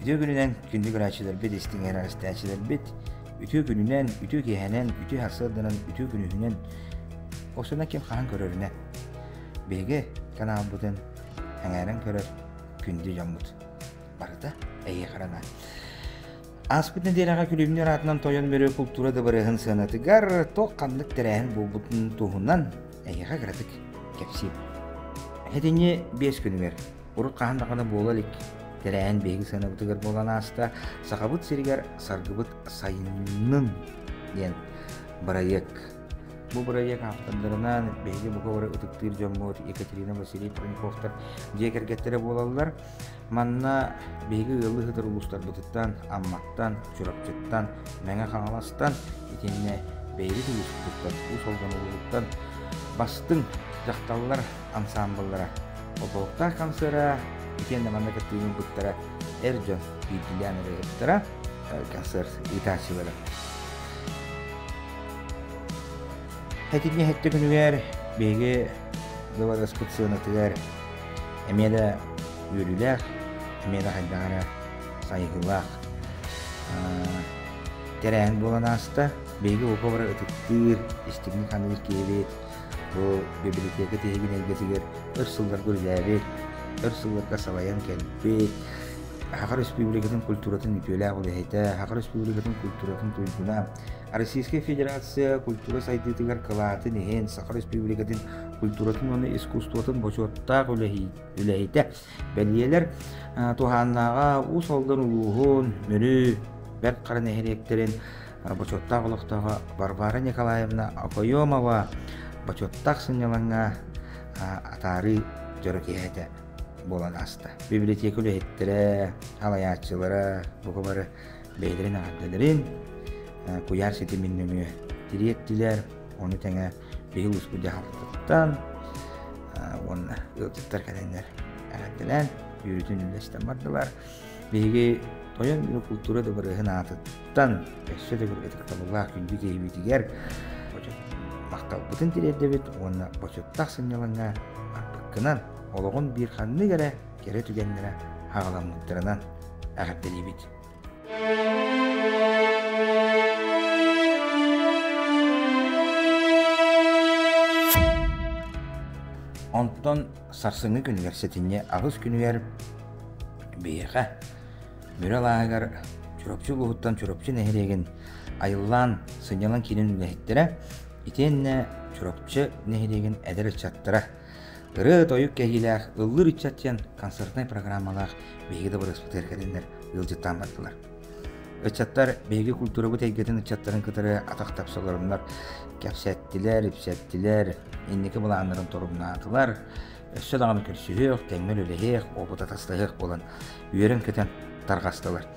Үтүө күнүнэн күндү көрөөччүлэрбит, истиҥэр эрэстээччилэрбит, үтүө күнүнэн, үтүө киэһэнэн, үтүө сарсыарданан, үтүө күнүһүнэн, осуна ким хаһан көрөрүнэ. Биһиги каналбытын эҥээрэн көрөр күндү дьоммут барыта эйиэхараҥа. Ааспыт нэдиэлэҕэ күлүмнүүр аатынан тойон мөрүө култуура дыбарыаһын сыанатыгар туох ханнык тэрээһин буолбутун туһунан эһиэхэ кыратык кэпсиим. Итини биэс күнүгэр урут хаһан даҕаны буола илик тэрээһин биһиги сыанабытыгар буолан ааста Сахабыт сиригэр Саргыбыт сайынын диэн бырайыак. Бу бырайыак автордарынан биһиги бука бары ытыктыыр дьоммут Екатерина Василий Проньковтар дьиэ кэргэттэрэ буолаллар. Манна биһиги ыал ыһытар улуустарбытыттан, Амматтан, Чурапчыттан, Мэҥэ Хаҥаластан, итиэннэ бэйэбит улууспуттан, Уус Алдан улууһуттан бастыҥ дьахталлар ансаамбыллара, отолоктаах хамсыара, итиэннэ манна кыттыыбыттара эр дьон биирдиилээн ырыаһыттара, концерт ыытааччылара. Этинньи эттэ күнүгэр биһиги Гыбарыаспыт сыанатыгар эмиэ да үөрүүлээх, эмиэ да хайдах эрэ сайыһыылаах тэрээһин буолан ааста. Биһиги уопа бары ытыктыыр, истиҥник-ханыыр киһибит. Бу библиотека тиһигин эйгэтигэр өр сылларга үлэлээбит, өр сылларга салайан кэлбит, Саха Республикатын культуратын үтүөлээх үлэһитэ, Саха Республикатын культуратын туйгуна, Российская Федерация культура сайдыытыгар кылаатын иһин Саха Республикатын культуратын уонна искусствотын бочуоттаах үлэһитэ бэлиэлэр туһааннааҕа Уус Алдан улууһун Мүрү Бэрт Хара нэһилиэктэрин бочуоттаах олохтооҕо Варвара Николаевна Акоемова бочуоттаах сынньалаҥҥа атаарыы дьоро киһитэ буолан ааста. Библиотека үлэһиттэрэ, салайааччылара, бука бары бэйэлэрин аардыларын, куйаар ситимин нөҥүө тириэртилэр, ону тэҥэ биһил успут дьаһалтаттан уонна ыалдьыттар кэлэннэр эҕэрдэлээн үөрүүтүн үллэстэн бардылар. Биһиги тойон культура дыбарыаһын аатыттан өссө да көргөтүк табыллаах күндү киһибитигэр махталбытын тириэрдэбит уонна бочуттах сынньалаҥҥа барбыккынан олоҕун биир ханнык эрэ кэрэ түгэннэрэ аҕаламмыттарынан эҕэрдэлиибит. Онтон сарсыҥҥы күнүгэр сэтинньи аҕыс күнүгэр биһиэхэ Бүрэл ааһыгар Чурапчы улууһуттан Чурапчы нэһилиэгин Айыллаан сынньалаҥ киинин үлэһиттэрэ итиэннэ Чурапчы нэһилиэгин эдэр ыччаттара ырыа-тойук кэһиилээх, ыллыыр ыччат диэн концертнай программалаах биһиги дабарыаспыт эргэтиннэр ыалдьыттаан бардылар. Ыччаттар биһиги культурабыт эйгэтин ыччаттарын кытары атах тапсаларыннар кэпсэттилэр, ипсэттилэр, инники былааннарын торумнаатылар, өссө даҕаны көрсүһүөх, тэҥҥэл үлэһиэх, опыт атастаһыах буолан үөрэн-көтөн тарҕастылар.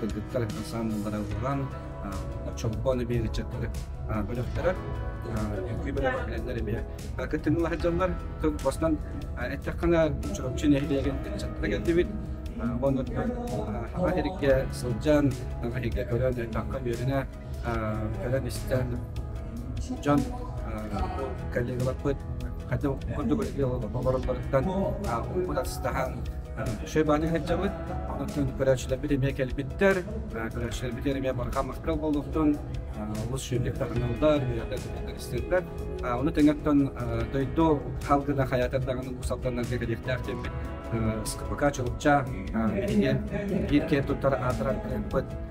кыргыттар ансаамбыллара ылларан чомпону биэриччэттэр бөлөхтөрө үкүй бөлөҕө кэлэннэр эмиэ кыттыылаах дьоннор бостон эттэххинэ Чурапчы нэһилиэгин ыччаттара келдибит уонна хаба эрикке сылдьан хаһыйга өлөн эттэххэ үөрүнэ кэлэн истэн дьон коллегаларбыт хоту курдук олороллоруттан уугут астаһан шөбааны сылдьабыт онтон көрөөччүлэрбит эмиэ кэлбиттэр көрөөччүлэрбит эмиэ барҕа маккал буолуохтун олус сүөкек таҕыналлар үөрэтэлистирдэр ону тэҥэттэн дойду халгына хайаатардаҕын усалтаннарга кэлиэхтээх диэммит СКПК Чулупча иһиниэн биир киэн туттар аатыран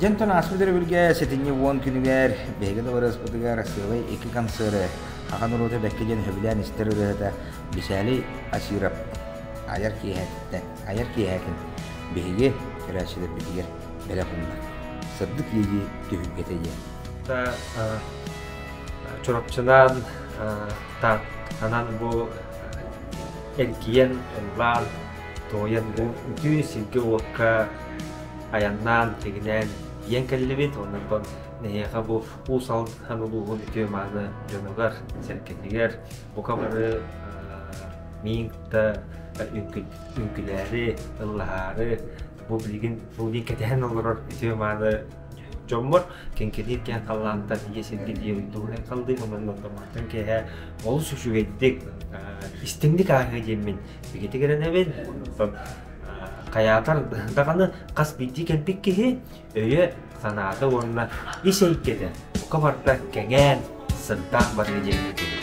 Дьэнтон ааспыт өрөбүлгэ сэтинньи уон күнүгэр биһиги дабарыаспытыгар сыалай икки концерты ахан урута бэкки диэн сөбүлээн истэр ырыата Бисээлий Асиров айар киэһэтэ айар киэһэтин биһиги көрөөччүлэрбитигэр бэлэх гынна. Сырдык лиги түһүлгэтэ диэн. Чурапчынан анан бу эргиэн улаан Туойан үтүө сиргэ-уокка айаннаан, тигинээн ийэн кэллибит. Оннорбон нэһиэхэ бу Уус Алдан улууһун үтүө-мааны дьонугар, сэргэтигэр бука бары миин кытта үҥкүлээри, ыллаһаары бу билигин бу билигин кэтэһэн олорор үтүө-мааны дьоммор кэнкилиир киэн халлаантан ийэ сиргэ диэбит тугунан халдыы омоннотторматтан киэһэ олус үчүгэйдик истиҥник ааһыа диэммин Бигитигирэнэбин. Хайаатар даҕаны хас биирдии кэлбит киһи өйө-санаата уонна ис эйгэтэ бука барда кэҥээн, сырдаах барыа диэки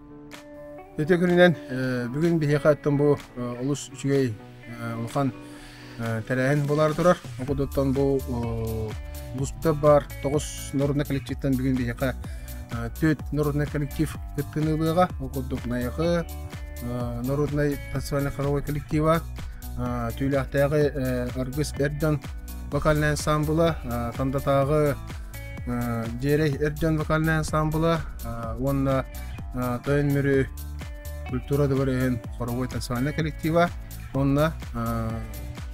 Ити күнүнэн бүгүн биһиэхэттэн бу олус үчүгэй улахан тэрээһин буолаары турар. Ол курдуктан бу Бустап баар тоҕус народнай коллективтан бүгүн биһиэхэ төрт народнай коллектив кыттыыны ылыаҕа. Ол курдук Найахы народнай танцевально-хоровой коллектива, Түүлээхтээҕи Аргыс эр дьон вокальнай ансамбыла, Тандатааҕы Диэри эр дьон вокальнай ансамбла уонна тойон мүрү культура добр иһин хоровой танцевальнай коллектива уонна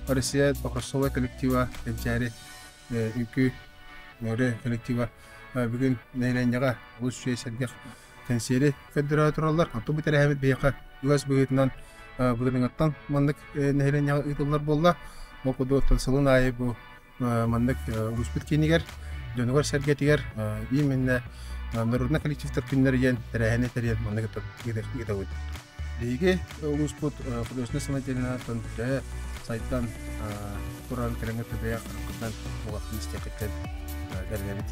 Россия покроссовой коллектива кэнчээри үҥкүү мөрө коллектива бүгүн нэһилиэнньэҕэ олус үчүгэй сэргэх кэнсиэри көрдөрө тураллар оттон бу тэрээһимит биһиэхэ үгэс быһыытынан былырыыҥҥаттан маннык нэһилиэнньэҕэ ыытыллар буолла ол курдук сылын аайы бу маннык улууспут киинигэр, дьонугар-сэргэтигэр именно народнай коллективтар күннэрэ диэн тэрээһини тэрийэн маннык ыытабыт. Биһиги улууспут художественнай самодеятельнатыттан дьэ сайтан туран кэрэҥэ төбөйөх хапкытынан улахан истиэхиттэн бэринэбит.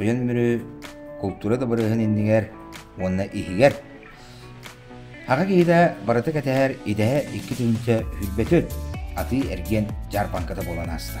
Ыйан мүрү култуура дабарыаһын иннигэр уонна иһигэр аҕа киһитэ барыта кэтэһэр идэһэ икки түнсэ үрбөтүн атыы эргиэн дьаарбаҥката буолан ааста.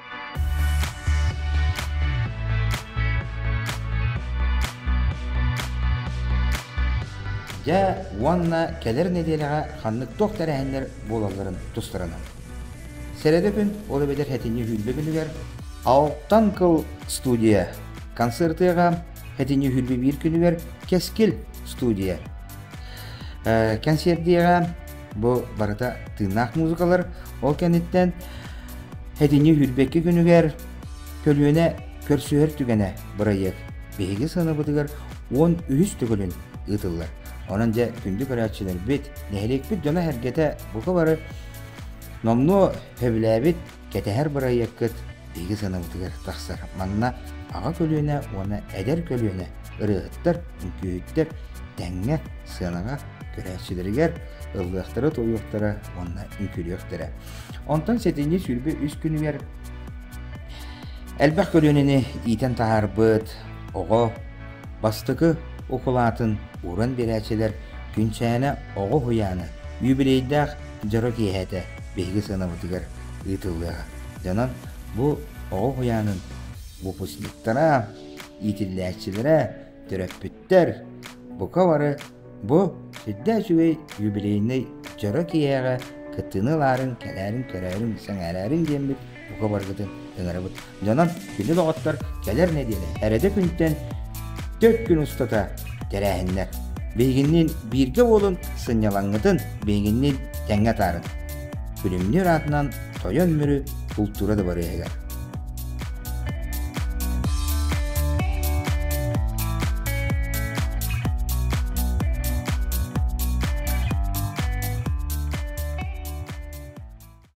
Дьэ уонна кэлэр нэдиэлэҕэ ханнык туох тэрээһиннэр буолалларын тустарынан. Сэрэдэпин ол эбэтэр этинньи үһүүрбэ күнүгэр Алтан кыл студия концертыга этинньи үһүүрбэ биир күнүгэр Кэскил студия. Э, кэнсиэрдиэҕэ Бу барыта тыыннаах музыкалар ол кэнниттэн этини үрбэкки күнүгэр көлүөнэ көрсүһэр түгэнэ бырайыак биһиги сыныбытыгар он үһүс төгүлүн ыытыллар. Онон дьэ күндү көрөөччүлэрбит, нэһилиэкпит дьоно-сэргэтэ бука бары номнуо сөбүлээбит Кэтэһэр бырайыаккыт биһиги сыанабытыгар тахсар. Манна аҕа көлүөнэ уонна эдэр көлүөнэ ырыаһыттар, үҥкүүһүттэр тэҥҥэ, сыанаҕа көрөөччүлэригэр ыллыахтара-туойуохтара уонна үҥкүүлүөхтэрэ. Онтон сэтинньи сүүрбэ үс күнүгэр элбэх көлүөнэни иитэн таһаарбыт оҕо бастакы укулаатын ууран биэрээччилэр Күнчээнэ оҕо уһуйаана юбилейдаах дьоро киэһэтэ биһиги сыанабытыгар ыытыллыаҕа. Дьонон бу оҕо уһуйаанын выпускниктара, иитиллээччилэрэ, төрөппүттэр, бука бары бу үрдэ үчүгэй юбилейнай дьоро киэһэҕэ кыттыыны ылаарын, кэлээрин, көрөөрүн, сэҥээрээрин диэммит бука баргытын ыҥарабыт. Дьонон кини доҕоттор кэлэр нэдиэлэ эрэдэ күнтэн төрт күн устата тэрээһиннэр. Биһигинниин бииргэ уолун сынньалаҥҥытын биһигинниин тэҥҥэ таарыт. Күлүмнүүр аатынан тойон мүрү култуура дабарыаһыгар.